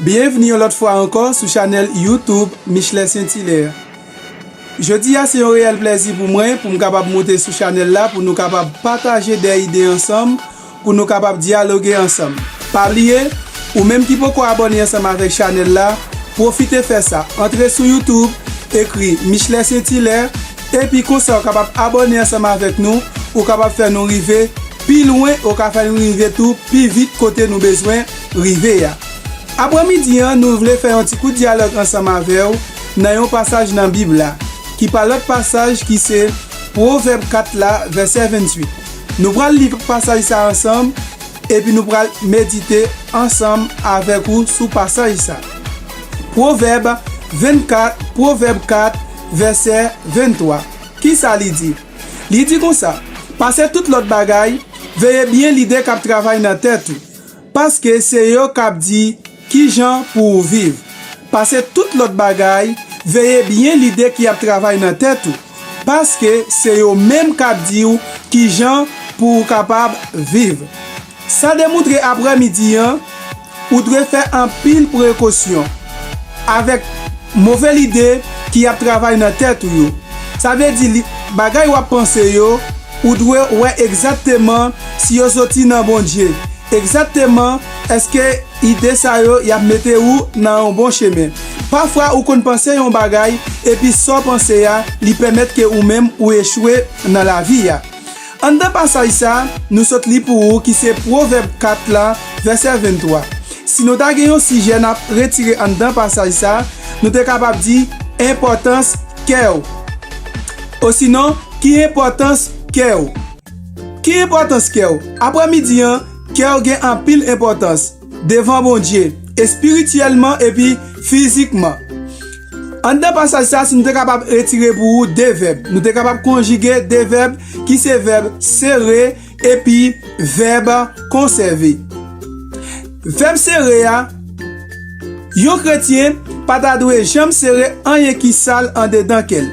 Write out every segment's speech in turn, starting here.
Byenvni yon lòt fwa ankò sou chanèl YouTube Michelet St. Hilaire. Jodi a se yon reyèl plèzi pou mwen pou m kapab moute sou chanèl la pou nou kapab pataje de ide ansanm, pou nou kapab dyaloge ansanm. Pa bliye, ou menm ki poko abòne ansanm avèk chanèl la, pwofite fè sa, antre sou YouTube, ekri Michelet St. Hilaire. Epi konsa ou kapab abòne ansanm avèk nou, ou kapab fè nou rive pi lwen, ou ka fè nou rive tou pi vit kote nou bezwen rive a. Apre midi an nou vle fè yon ti kout dyalòg ansanm avè w nan yon pasaj nan bib la, ki pa lòt pasaj ki se Pwovèb 4 la vèsè 28. Nou pral li pasaj sa ansanm, epi nou pral medite ansanm avèk ou sou pasaj sa. Pwovèb 24 Pwovèb 4 vèsè 23. Ki sa li di? Li di konsa, Pase tout lòt bagay, veye byen lide k ap travay nan tèt ou, paske se yo k ap di ki jan pou ou viv. Pase tout lòt bagay, veye byen lide ki ap travay nan tèt ou, paske se yo menm k ap di ou ki jan pou ou kapab viv. Sa demoutre aprè midi an, ou dwe fè anpil prekosyon avèk move lide ki ap travay nan tèt ou yo. Sa vle di li bagay wap panse yo, ou dwe wè egzatteman si yo soti nan Bondye, egzatteman eske ide sa yo yap mete ou nan yon bon chemen. Pafwa ou konn panse yon bagay epi sa w panse a li pèmèt ke ou menm ou echwe nan lavi a. Anndan pasaj sa a, nou sot li pou ou ki se Pwovèb 4 la, vèsè 23. Si nou ta gen yon sijè n ap retire anndan pasaj sa a, nou te kapab di, Enpòtans kè w. Osinon, Ki enpòtans kè w? Ki enpòtans kè w? Aprè midi an, kè w gen anpil enpòtans. devan Bondye, espirityèlman epi fizikman. Anndan pasaj sa, si nou te kapab retire pou ou de vèb, nou te kapab konjige de vèb ki se vèb sere epi vèb konsève. Vèb sere a, yon kretyen pa ta dwe janm sere anyen ki sal andedan kè l.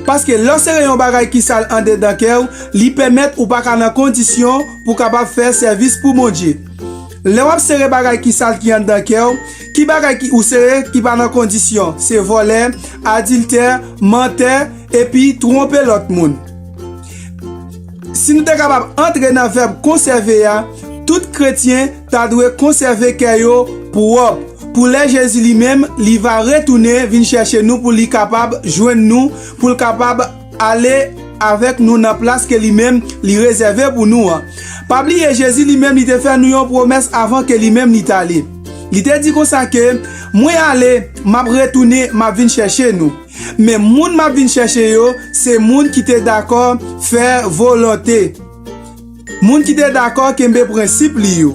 Paske lè w sere yon bagay ki sal andedan kè w, li pèmèt ou pa ka nan kondisyon pou w kapab fè sèvis pou Bondye. Lè wap sere bagay ki sal ki anndan kèw, ki bagay ki ou sere ki pa nan kondisyon, se vòlè, adiltè, mantè, epi twonpe lòt moun. Si nou te kapab antre nan vèb konsève a, tout kretyen ta dwe konsève kè yo pwòp, pou lè Jezi li menm li va retounen vin chèche nou pou li kapab jwenn nou, pou l kapab. Ale avèk nou nan plas ke li menm li rezève pou nou an. Pa bliye Jezi li menm li te fè nou yon pwomès avan ke li menm li t'ale. Li te di konsa ke, Mwen ale, m'ap retounen, m'ap vin chèche nou. Men moun m'ap vin chèche yo, se moun ki te dakò fè volonte. Moun ki te dakò kenbe prensip li yo.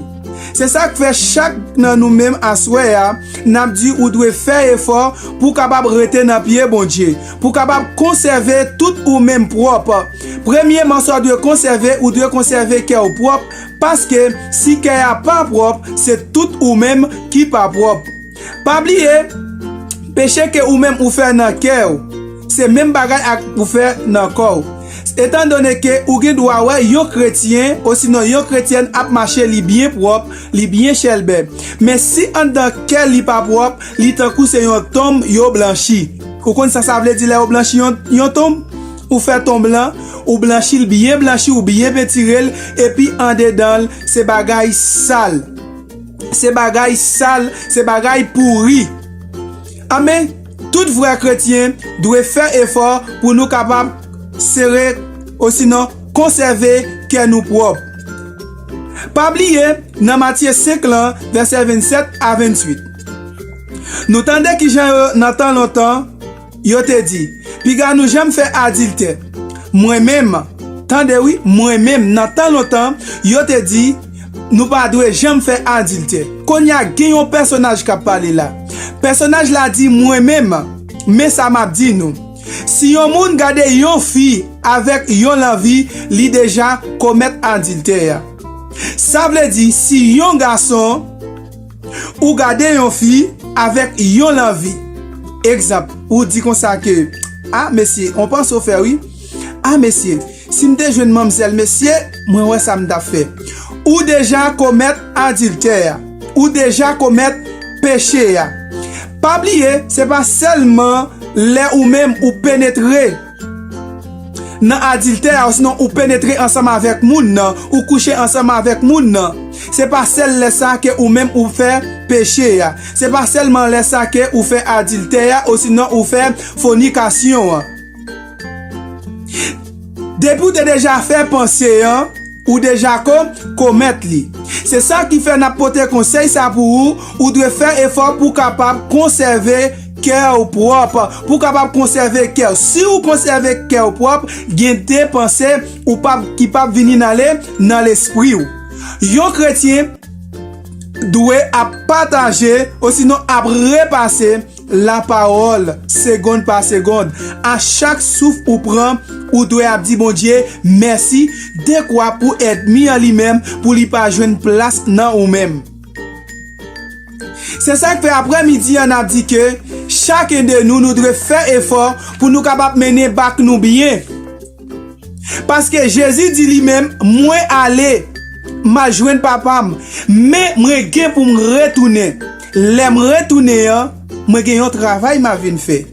Se sa k fè chak nan nou menm aswè a n ap di ou dwe fè efò pou w kapab rete nan pye Bondye, pou w kapab konsève tout ou menm pwòp. Premyeman sa w dwe konsève, ou dwe konsève kè w pwòp, paske si kè a pa pwòp, se tout ou menm ki pa pwòp. Pa bliye, peche ke ou menm ou fè nan kè w, se menm bagay ak ou fè nan kò w. Etan done ke ou gen dwa wè yon kretyen osinon yon kretyèn ap mache li byen pwòp, li byen chèlbè, men si anndan kè l li pa pwòp, li tankou se yon tonm yo blanchi. Ou konn sa sa vle di lè yo blanchi yon tonm? Ou fè tonm lan, ou blanchi l byen blanchi, ou byen pentire l, epi andedan l se bagay sal. Se bagay sal, se bagay pouri. Anben, tout vrè kretyen dwe fè efò pou nou kapab sere osinon konsève kè nou pwòp. Pa bliye nan Matye 5 lan, vèsè 27 a 28, nou tande ki jan yo nan tan lontan, Yo te di, Piga nou janm fè adiltè. Mwen menm, tande wi, mwen menm, nan tan lontan, yo te di, Nou pa dwe janm fè adiltè. Kounye a, gen yon pèsonaj k ap pale la. Pèsonaj la di, Mwen menm, men sa m ap di nou, si yon moun gade yon fi avèk yon lanvi, li deja komèt adiltè a. Sa vle di, si yon gason. Ou gade yon fi avèk yon lanvi. Egzanp, ou di konsa ke, A mesye, on panse w fè wi. A mesye, si m te jwenn manmzèl mesye, mwen wè sa m t ap fè. Ou deja komèt adiltè a. Ou deja komèt peche a. Pa bliye, se pa sèlman lè ou menm ou penetre. Nan adiltè a osnon ou penetre ansanm avèk moun nan, ou kouche ansanm avèk moun nan, se pa sèl lè sa ke ou menm ou fè peche a, se pa sèlman lè sa ke ou fè adiltè a osinon ou fè fonikasyon an. Depi ou te deja fè panse an. Ou deja ko, komèt li. Se sa ki fè n ap pote konsèy sa pou ou, ou dwe fè efò pou w kapab konsève kè w pwòp, pou w kapab konsève kè w. Si ou konsève kè w pwòp, gen de panse ou p ap ki p ap vini nan le nan lespri w. Yon kretyen dwe ap pataje osinon ap repase Lapawòl, segond pa segond, a chak souf ou pran, ou dwe ap di Bondye mèsi, dekwa pou èdmi an li menm pou li pa jwenn plas nan ou menm. Se sa k fè aprè midi an n ap di ke chaken de nou nou dwe fè efò pou nou kapab mennen bak nou byen. Paske Jezi di li menm, Mwen ale, m al jwenn Papa m, men mwen gen pou m retounen. Lè m retounen an, mwen gen yon travay m a vin fè.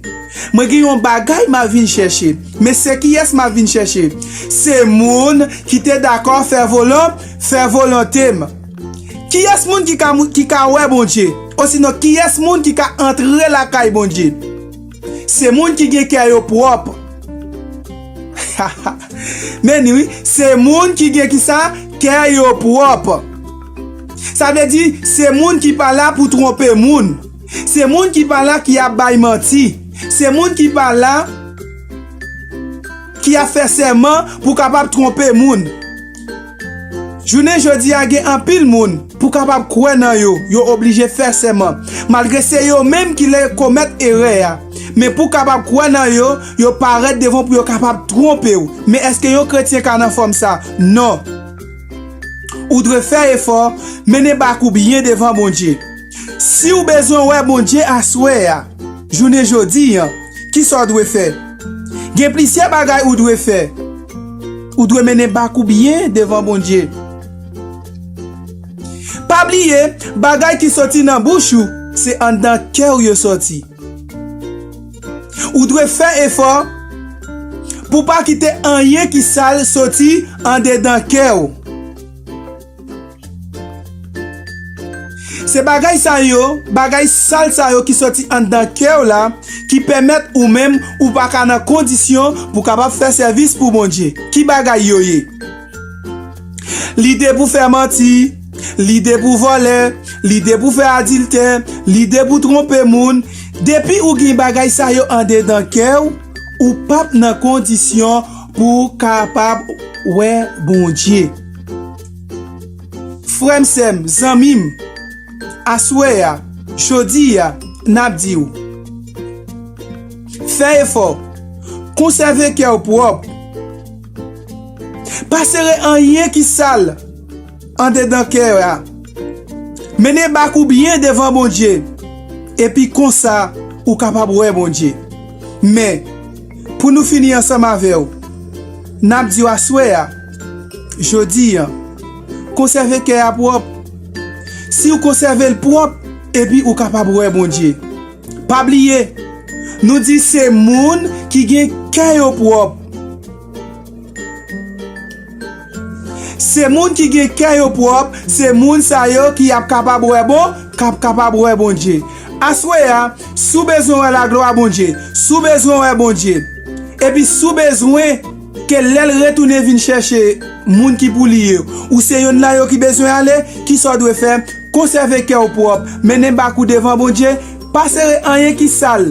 Mwen gen yon bagay m a vin chèche. Men se kiyès m a vin chèche? Se moun ki te dakò fè volonte m. Kiyès moun ki ka wè Bondye? Osinon, kiyès moun ki ka antre lakay Bondye? Se moun ki gen kè yo pwòp. Meni wi, se moun ki gen kisa? Kè yo pwòp. Sa vle di, se moun ki pa la pou twonpe moun. Se moun ki pa la ki ap bay manti. Se moun ki pa la ki ap fè sèman pou kapab twonpe moun. Jounen jodi a gen anpil moun, pou kapab kwè nan yo, yo oblije fè sèman, malgre se yo menm ki lè komèt erè a. Men pou kapab kwè nan yo, yo parèt devan w pou yo kapab twonpe w. Men èske yon kretyen ka nan fòm sa? Non. Ou dwe fè efò, mennen bak ou byen devan Bondye. Siw bezwen wè Bondye aswè a, jounen jodi an, kisa w dwe fè? Gen plisyè bagay ou dwe fè. Ou dwe mennen bak ou byen devan Bondye. Pa bliye, bagay ki soti nan bouch ou, se anndan kè ou yo soti. Ou dwe fè efò pou pa kite anyen ki sal soti andedan kè ou. Se bagay sa yo, bagay sal sa yo ki sòti anndan kè w la ki pèmèt ou menm ou pa ka nan kondisyon pou kapab fè sèvis pou Bondye. Ki bagay yo ye? Lide pou fè manti, lide pou vòlè, lide pou fè adiltè, lide pou twonpe moun. Depi ou gen bagay sa yo andedan kè w, ou pap nan kondisyon pou kapab wè Bondye. Frè m, sè m, zanmi m, aswè a, jodi a, n ap di w, Fè efò, konsève kè w pwòp, pa sere anyen ki sal andedan kè a, mennen bak ou byen devan Bondye, epi konsa ou kapab wè Bondye. Men, pou nou fini ansanm avè w, n ap di w aswè a, Jodi a. Konsève kè a pwòp. Siw konsève l pwòp epi ou kapab wè Bondye. Pa bliye Nou di se moun ki gen kè yo pwòp. Se moun ki gen kè yo pwòp se moun sa yo ki ap kapab wè bon kap kapab wè Bondye. Aswè a si w bezwen wè laglwa Bondye, si w bezwen wè Bondye epi si w bezwen. Ke lè l retounen vin chèche moun ki pou li yo, ou se yonn nan yo ki bezwen ale, kisa w dwe fè? Konsève kè w pwòp, mennen bak ou devan Bondye, pa sere anyen ki sal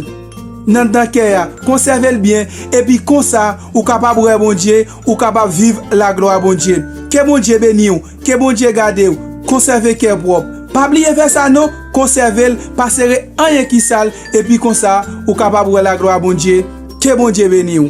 nan dan kè a, konsève l byen, epi konsa ou kapab wè Bondye, ou kapab viv laglwa Bondye. Ke Bondye beni w, ke Bondye gade w, konsève kè pwòp. Pa bliye fè sa non, konsève l, pa sere anyen ki sal, epi konsa ou kapab wè laglwa Bondye. Ke Bondye beni w.